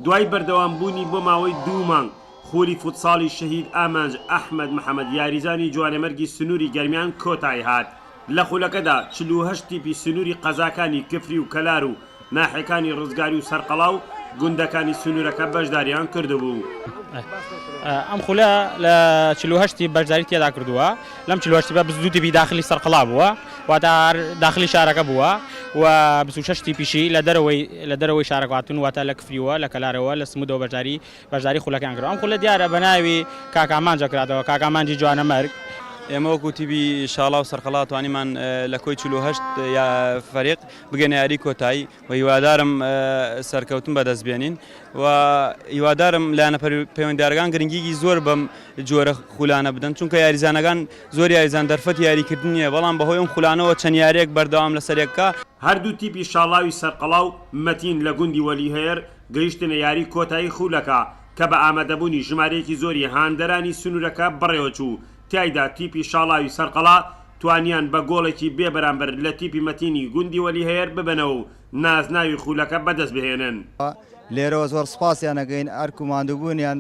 دوای بەردەوام بوونی بۆ ماوەی دوو مانگ، خولی فوتساڵی شەهید ئامانج ئەحمەد محەمەد یاریزانی جوانەمەرگی سنووری گەرمیان کۆتایی هات، لە خولەکەدا چل و هەشت تیپی سنووری قەزاکانی کفری و کەلار و ناحێکانی رزگاری و سەرقەڵا و گوندەکانی سنوورەکە بەشداریان کردبوو. ئەم خولە لە چل و هەشت تیپ بەشداری تێدا کردووە. لەم چل و هەشت تیپە بیست و دوو تیپی داخلی سەرقەڵا بووە، واتە هەر داخلی شارەکە بووە و بیست و شەش تیپیشی لە دەرەوەی لە دەرەوەی شارەکە هاتوون، واتە لە کفریوە، لە کەلارەوە، لە سموودەوە بەشداری بەشداری خولەکەیان کردووە. ئەم خولە دیارە بە ناوی کاک ئامانج دەکراتەوە، کاک ئامانجی جوانەمەرگ. ئێمە وەکوو تیپی شاڵاو سەرقەڵا توانیمان لە کۆی چل و هەشت فەریق بگەینە یاریی کۆتایی، و هیوادارم سەرکەوتن بەدەست بێنین و هیوادارم لایەنە پەیوەندیارەکان گرنگیگی زۆر بەم جۆرە خولانە بدەن چونکە یاریزانەکان زۆر یاریزان دەرفەتی یاریکردن نییە بەڵام بەهۆی ئەم خولانەوە چەند یارییەک بەردەوام لەسەر یەکە هەردوو تیپی شاڵاوی سەرقەڵاو مەتین لە گوندی وەلی هەیەر گەیشتنە یاری کۆتایی خولەکە کە بە ئامادەبوونی ژمارەیەکی زۆری هاندەرانی سنوورەکە بەڕێوەچوو، تیایدا تیپی شاڵاوی سەرقەڵا توانیان بە گۆڵێکی بێ بەرامبەر لە تیپی مەتینی گوندی وەلی هەیەر ببەنەوە و نازناوی خولەکە بەدەست بهێنن. لێرەوە زۆر سوپاسیان ئەکەین، ئەرک و ماندووبوونیان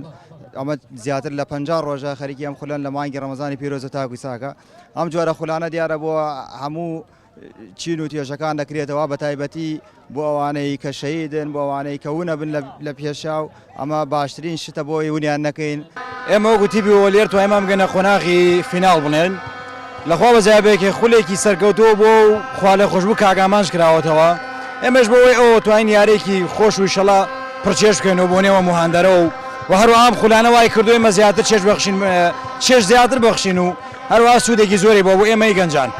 ئەمە زیاتر لە پەنجا ڕۆژە خەریکی ئەم خولەن لە مانگی ڕەمەزانی پیرۆز و تاکو چاکە ئەم جۆرە خولانە دیارە بۆ هەموو چین و توێژەکان دەکرێتەوە بەتایبەتی بۆ ئەوانەی کە شەیدن بۆ ئەوانەی کە ونەبن لە پێشا و ئەمە باشترین شتە بۆی ونیان نەکەین ئێمە وەکو تیبی وەلێر توانیمان بگەنە قۆناغی فیناڵ بڵێن لەخوا بەزابێکێ خولێکی سەرکەوتووە بۆ و خوالێ خۆشببوو کاک ئامانج کراوەتەوە ئێمەش بۆی ئەو توانین یارێکی خۆش و شەڵا پرچێش بکەن و بۆ نێوە مهاندەرە و و هەروام خولانە وای کردوی مە زیاتر چێش بەخشین چێش زیاتر بەخشین و هەروە سوودێکی زۆری بۆ بۆ ئێمەی گەنجان.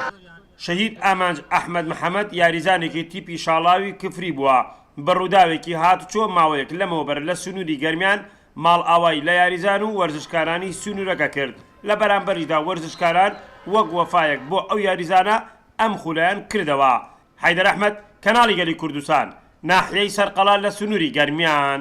شەهید ئامانج ئەحمەد محەمەد یاریزانێکی تیپی شاڵاوی کفری بووە، بە ڕووداوێکی هاتوچۆ ماوەیەک لەمەوبەر لە سنووری گەرمیان ماڵئاوای لە یاریزان و وەرزشکارانی سنوورەکە کرد، لە بەرامبەریشدا وەرزشکاران وەک وەفایەک بۆ ئەو یاریزانە ئەم خولەیان کردەوە. حەیدەر ئەحمەد، کەناڵی گەلی کوردستان، ناحیەی سەرقەڵا لە سنووری گەرمیان.